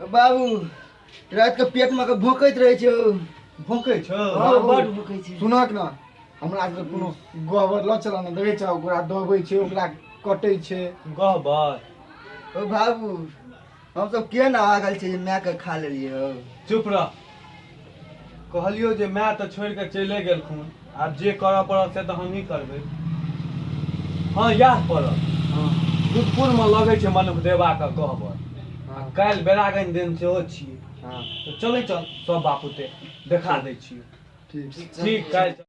बाबू रात के पेट में के भोंकैत रहे छौ भोंकै छौ हाँ, बड़ भोंकै छै सुनक ना हमरा के कोनो गहबर ल चला ना देखे छौ ओकरा दबै छै ओकरा कटै छै गहबर ओ बाबू हम सब के ना आगल छै जे माय के खा लेलिए हो चुप रह कहलियो जे माय तऽ छोड़ के चले गेलखुन आब जे करऽ पड़त से तऽ हमही करबै हँ इएह पड़त हँ सुखपुरमे लगै छै मनुख देवाके गहबर आ काल्हि बेरागन दिन सेहो छियै हँ तऽ चलै चल सब बापुते देखा दै छियै ठीक ठीक काल्हि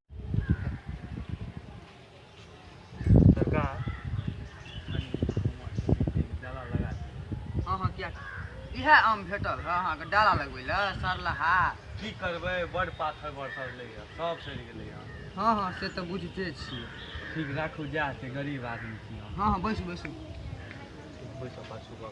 सरकार डाला लगा हाँ हाँ क्या इहे आम भेटल है अहाँके डाला लगबै लए सरलहा की करबै बड़ पाथर बरसल लै सब सड़ि गेलै हाँ हाँ से तऽ बुझिते छियै ठीक राखू जा छै गरीब आदमी छी हाँ हाँ बैसू बैसू बैसू पाछू कऽ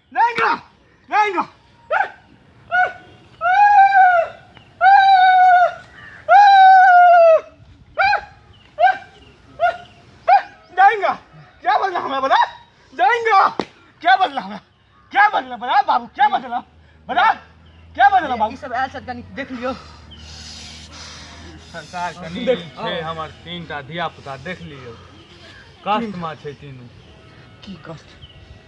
Venga! Venga! जाएगा क्या बदला हमें बता जाएगा क्या बदला हमें क्या बदला बता बाबू क्या बदला बता क्या बदला बाबू सब ऐसा कनी देख लियो सरकार कनी देख- छै हमर तीनटा धिया पुता देख लियौ कष्टमे छै तीनू की कष्ट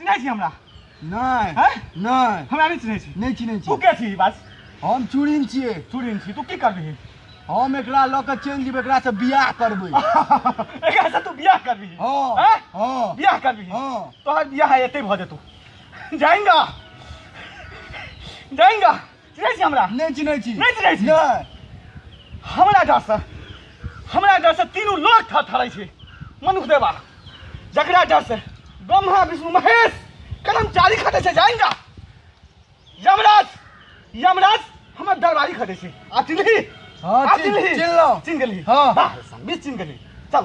चिन्है छी हमरा नहि हैं? नहि हमरा नहि चिन्है छी नहि चिन्है तू छी के छी बस हम चूड़िन छियै चूड़िन छी तू की करबिही हम एकरा लऽ कऽ चलि जेबै एकरासँ बियाह करबै एकरा से तू बियाह करबिही हँ हैं? हँ बियाह करबिही हँ तोहर बियाह एते भऽ जेतौ जाएंगा जाएंगा चिन्है छी हमरा नहि चिन्है छी नहि चिन्है छी नहि हमरा डरसँ हमरा डरसँ तीनू लोक थर थरै छै मनुख देवा जकरा डरसँ ब्रह्मा विष्णु महेश कर्मचारी खटे छै जाएंगा यमराज यमराज हमर दरबारी खटे छै आ चिन्हली हाँ, आ चिन्ह- चिन्हली चिन्हलौं। चिन्ह गेली हाँ। वाह, बीस चिन्ह गेली चल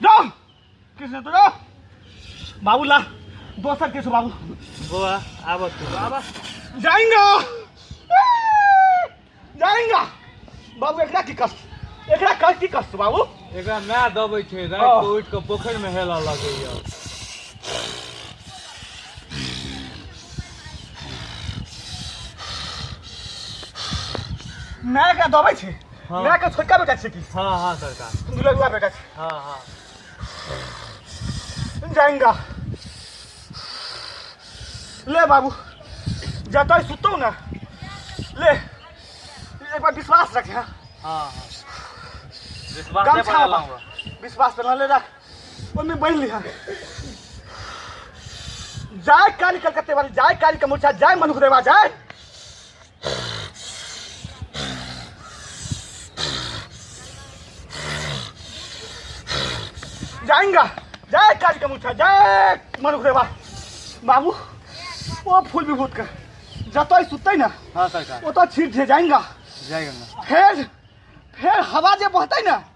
যাও कृष्ण तो जाओ बाबू ला दो सर के बाबू गोवा आब तू आब जाएंगा जाएंगा बाबू एकरा की कष्ट एकरा कष्ट की कष्ट बाबू एकरा ना दबै छै रात हाँ। को उठ के पोखर में हेला लगे या ना एकरा दबै छै हाँ। मैं के छोटका बेटा छी की हां हां सरकार दुलगुआ बेटा छी हां हां जाएंगा ले बाबू जतय सुतो ना ले एक बार विश्वास रख हां हां विश्वास कम पे छावा। लाऊंगा विश्वास पर ले रख ओमे बैठ लिहा जाय काली कलकत्ते वाली जाय काली कमुरछा जाय मनुख देवा जाय जाएंगा जाए काज का मुठा जाए मन रे बा बाबू ओ फूल विभूत का जतई सुतई ना हाँ सरकार ओ तो छिड़ छे जाएंगा जय गंगा फेर फेर हवा जे बहतै ना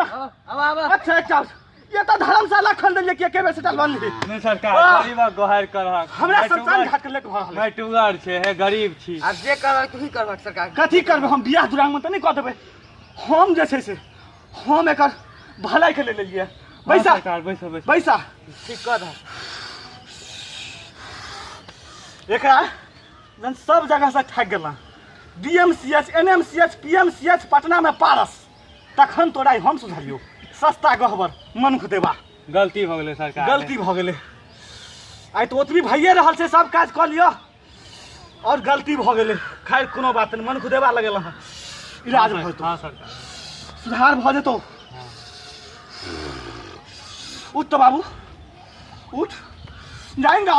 अब अब अच्छा अच्छा ये तो धर्मशाला खोल देलिए के के बेसे टल बनली नहीं सरकार आह! गरीब गोहार कर हक हमरा शमशान घाट के लेके भरल मैं टुगर छे हे गरीब छी अब जे करबक तू ही करबक सरकार कथी करबै हम बियाह दुरांग में त नहीं कह देबै हम जे छै से हम एकर भलाई के ले लेलिए हाँ, बैसा सरकार बैसो बैसो बैसा ठीक कर दह एकरा जन सब जगह से ठग गेला डीएमसीएच एनएमसीएच पीएमसीएच पटना में पारस तखन तोरा ई हम सुझाइयो सस्ता गहबर मनुख देबा गलती भऽ गेलै सरकार गलती भऽ गेलै आइ तऽ ओतबी भइए रहल छै सब काज कऽ लिअ आओर गलती भऽ गेलै खैर कोनो बात नहि मनुख देबा लगेलहुँ हँ इलाज भऽ जेतौ हँ सरकार सुधार भऽ जेतौ उठ तऽ बाबू उठ जाएंगा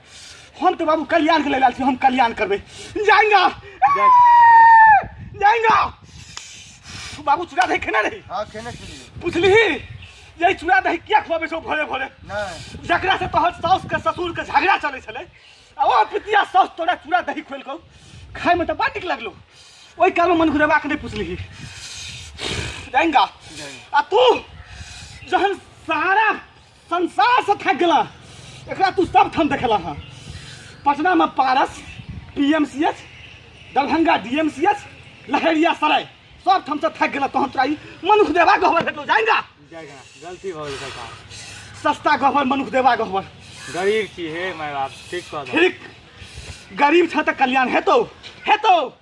हम तो बाबू कल्याण के ले लाल छी हम कल्याण करबे जाएंगा जाएंगा बाबू चूड़ा दही खेना रही हाँ खेने के लिए पूछली यही चूड़ा दही किया खुआबे छो भोरे भोरे नहीं जकरा से तोहर साउस के ससुर के झगड़ा चले छले आ ओ पितिया साउस तोरा चूड़ा दही खोल कौ खाए में तो बड़ नीक लगलो ओहि काल में मन घुरेबा के नहीं पूछली जाएंगा आ तू जहन सारा संसार से थक गला एकरा तू सब ठाम देखला हाँ पटना में Paras P M C H Darbhanga D M C H Laheria Sarai सब ठाम से थक गला तोहन तोरा ई मनुख देवा गहबर भेटलो जाएगा जाएगा गलती भऽ गेल सरकार सस्ता गहबर मनुख देवा गहबर गरीब छी हे माय बाप ठीक कह दो ठीक गरीब छ तऽ कल्याण हेतौ हेतौ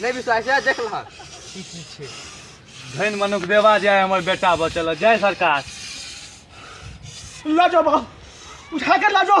नहि विश्वास है देख लहक की की छै धन मनुख देवा जाए हमर बेटा बचल जय सरकार ला जाओ बाबू उठा कर ला जाओ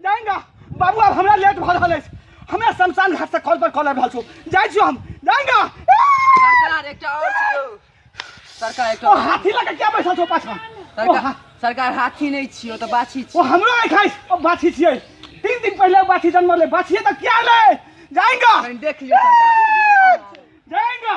जाएगा बाबू अब हमरा लेट भऽ रहल अछि हमरा शमशान घाट से कॉल पर कॉल आबि रहल छौ जाइ छियौ हम जाएगा सरकार एकटा और छै यौ सरकार ओ एकटा और। हाथी लऽ के किया बैसल छौ पाछा ओ सरकार हा- सरकार हाथी नहि छियौ तऽ बाछी ओ हमरो आइ खाइ ओ बाछी छियै तीन दिन पहिले बाछी जन्म ले बाछिए तऽ क्या ले जाएगा कनि देख लियौ सरकार जाएगा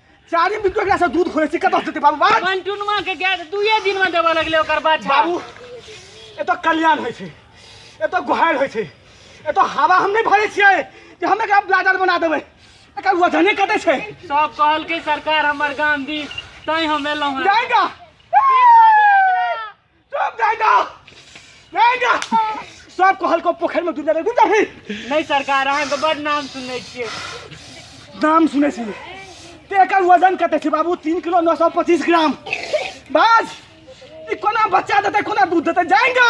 चारि मिनट एकरा से दूध खोले छी कतऽ से देते बाबू बाबू मंटुनमा के गैस दुए दिन में देबऽ लगले ओकर बात बाबू एतऽ कल्याण होइ छै एतऽ गोहार होइ छै एतऽ हवा हम नहि भरे छियै जे हम एकरा ब्लाडर बना देबै एकर वजने कते छै सब कहलकै सरकार हमर गांधी तैं हम एलहुं हैं जाएगा चुप जाए जा जाए जा सब कहल को पोखर में डूब जाए डूब जाए नहीं सरकार अहाँ के बड़ नाम सुनै छियै नाम सुनै छी ते एकर वजन कते छै बाबू तीन किलो नौ सौ पच्चीस ग्राम बाज ई कोना बच्चा देतै कोना दूध देतै जाएगा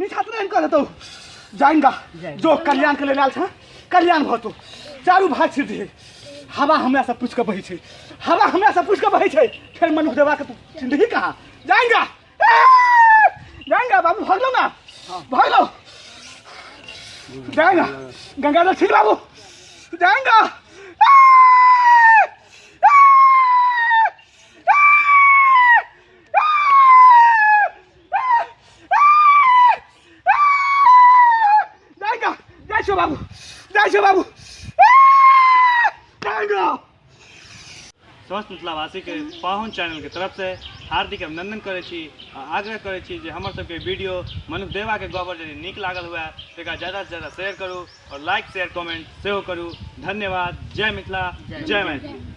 मीठा तो नहीं करत जाएगा जो कल्याण के लेल आयल छ कल्याण भतो चारू भाग छिड़ दे हवा हमरा से पूछ के बहे छै हवा हमरा से पूछ के बहे छै फिर मनु देवा के तू जिंदगी कहा जाएगा जाएगा बाबू भाग लो ना भाग लो जाएगा गंगाधर ठीक बाबू जाएगा स्वस्थ मिथिलावासी के पाहुन चैनल के तरफ से हार्दिक अभिनंदन करे छी आ आग्रह करे छी जे हमर सबके वीडियो मनुख देवा के गबर यदि नीक लागल हुए तो एकरा ज्यादा से ज्यादा शेयर करू और लाइक शेयर कमेंट सेहो करू धन्यवाद जय मिथिला जय मैथिली